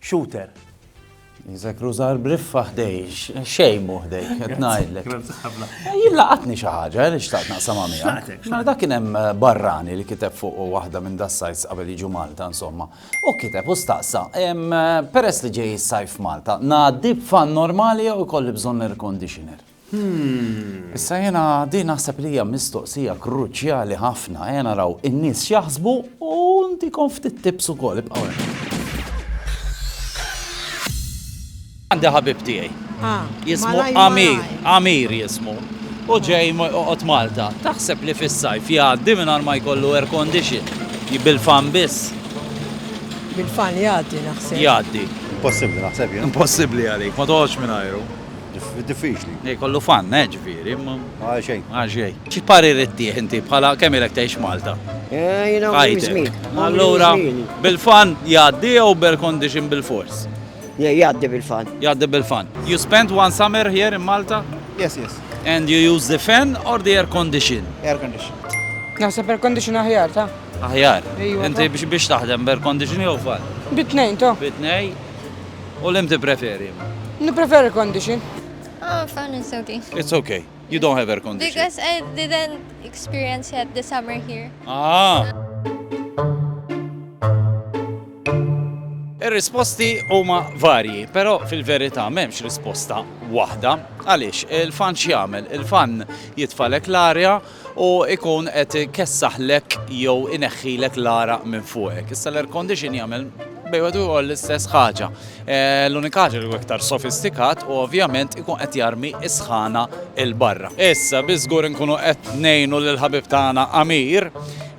Shooter. Iżek rużar briffa ħdej, xejn mu ħdej, qed ngħidlek. Jien laqatni xi ħaġa li xtaqt naqsam miegħek. Mela dak kien hemm eh, barrani li kiteb fuq waħda minn das-sajts qabel jiġu Malta insomma. U kiteb u staqsa, eh, peress li ġej is-sajf Malta, ngħaddi b'fan normali jew ikolli bżonn air conditioner. Hm. Issa jiena din naħseb li hija mistoqsija kruċjali ħafna. Ejja naraw in-nies x'jaħsbu u ntikom ftit tips ukoll ibqgħu Għandi ħabib tiegħi. Ah, jismu Amir, Amir jismu. U ġej qot Malta. Taħseb li fis-sajf jgħaddi mingħajr ma jkollu air condition. Bil-fan biss. Bil-fan jgħaddi naħseb. Jgħaddi. Impossibbli naħseb jien. Impossibbli għalik, ma toħodx mingħajru. Diffiċli. Li jkollu fun, eh, ġifieri. Għal xejn. Għal xejn. X'parir ittih inti bħala kemm ilek tgħix Malta? Eh, jiena għomri żmieni. Għajtek. Allura bil-fun jgħaddi jew b'air condition bil-fors? Le, jgħaddi bil-fun. Jgħaddi bil-fun. You spent one summer here in Malta? Yes, yes. And you use the fan or the air condition? Air condition. Naħseb air condition aħjar, ta? Aħjar. Ejwa, ta. Inti biex biex taħdem b'air condition jew fun? Bit-tnejn, ta. Bit-tnejn. U l-im tippreferi imma? Nippreferi condition. Oh, fun is okay. It's okay. You don't have air condition. Because I didn't experience yet the summer here. Ah! Ir-risposti huma varji, però fil-verità m'hemmx risposta waħda. Għaliex il-fan x'jagħmel? Il-fan jitfalek l-arja u jkun qed ikessaħlek jew ineħħilek l-għaraq minn fuqek. Issa l-air condition jagħmel bejn wieħed u ieħor l-istess ħaġa. Eh, l-unika ħaġa li iktar sofistikat u ovvjament ikun qed jarmi is-sħana il barra. Issa bi żgur inkunu qed ngħinu lil ħabib tagħna Amir.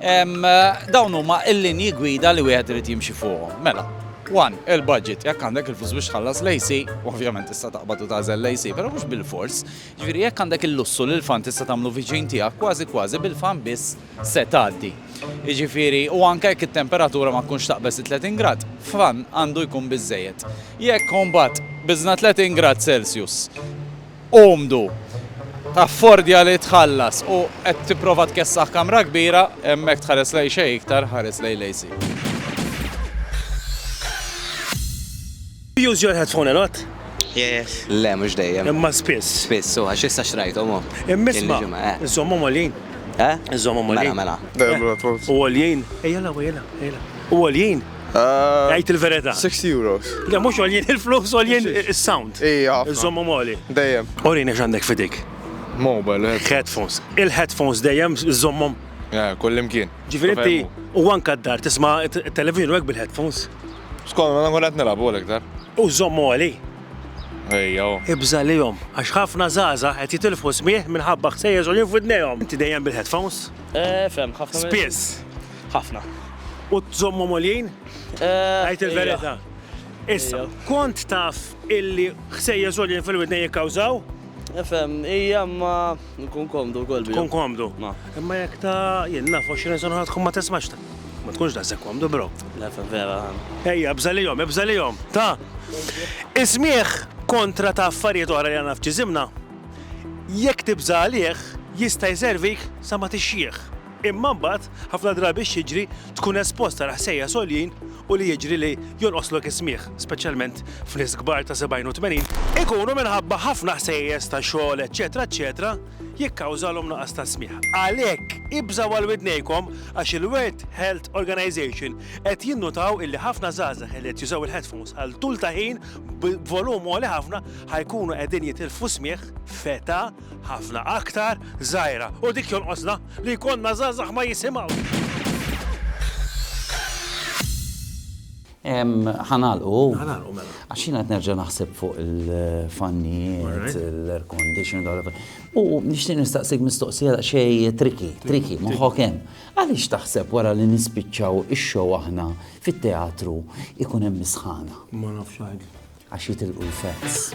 Dawn huma l-linji gwida li wieħed irid jimxi fuqhom. Mela, One, il-budget, jekk għandek il-flus biex tħallas l-AC, ovvjament tista' taqbad u tażel l-AC, però mhux bil-fors, Jiġifieri jekk għandek il-lussu li l-fan tista' tagħmlu viċin tiegħek, kważi kważi bil-fan biss se tgħaddi. Jiġifieri, u anke jekk it-temperatura ma tkunx taqbeż it-30 grad, fan għandu jkun biżżejjed. Jekk imbagħad biżna 30 grad Celsius umdu, taffordja li tħallas u qed tipprova tkessaħ kamra kbira, hemmhekk tħares lejn xejn iktar, ħares lejn l-AC. Do you use your headphone a lot? Yes. Le, mhux dejjem. Imma spiss. Spiss, u għax issa xrajthom hu. Imma isma', iżommhom għoljin. Eh? Iżommhom għoljin. Mela, mela. U għoljin. Ejja la, ejja la, ejja la. U għoljin. Għajt il-verita. 6 euros. Le, mhux għoljin il-flus, għoljin il-sound. Ija. Iżommhom għoli. Dejjem. Orini x'għandek fidik. Mobile. Headphones. Il-headphones dejjem iżommhom. Kullimkien. Ġifieri u anka d-dar tisma' televizjoni bil-headphones. Skont ma nkun qed nilgħab gol iktar. U żomm għoli. Ejja hu. Ibża' lihom, għax ħafna żgħażagħ qed jitilfu smigħ minħabba ħsejjes għoljin f'widnejhom. Inti dejjem bil-headphones? Fehmt, ħafna minnhom. Spiss? Ħafna. U tżommhom għoljin? Għid il-verità. Issa, kont taf illi ħsejjes għoljin fil-widnejn jikkawżaw? Fehmt, ija, imma. Nkun komdu wkoll bihom. Tkun komdu. Ma. Imma jekk ta' jien naf 20 sena tkun ma tismax ta. Ma tkunx daqshekk komdu bro. Le fa vera. Ejja, bżalihom, ibżalihom. Ta'. Is-smigħ kontra ta' affarijiet oħra li għandna f'ġisimna, jekk tibża' għalih, jista' jservik sa ma tixjieħ. Imma mbagħad, ħafna drabi x'jiġri, tkun espost għal ħsejjes għoljin u li jiġri li jonqoslok is-smigħ, speċjalment f'nies kbar ta' 70 u 80, ikunu minħabba ħafna ħsejjes ta' xogħol eċċetera eċċetera jikkawżalhom nuqqas ta' smigħ. Għalhekk, ibżgħu għal widnejkom għax il-World Health Organization qed jinnutaw illi ħafna żgħażagħ li qed jużaw il-headphones għal tul ta' ħin b'volum għoli ħafna ħa jkunu qegħdin jitilfu smigħ f'età ħafna aktar żgħira u dik jonqosna li jkollna żgħażagħ ma jisimgħux. Ħanalqu. Ħanalqu mela. Għax jiena qed nerġa' naħseb fuq il-fannijiet, l-air condition, u nixtieq nistaqsik mistoqsija xejn triki, triki, moħħok hemm. Għaliex taħseb wara li nispiċċaw ix-show aħna fit-teatru ikun hemm misħana? Ma nafx Għax jitilqu l-fats.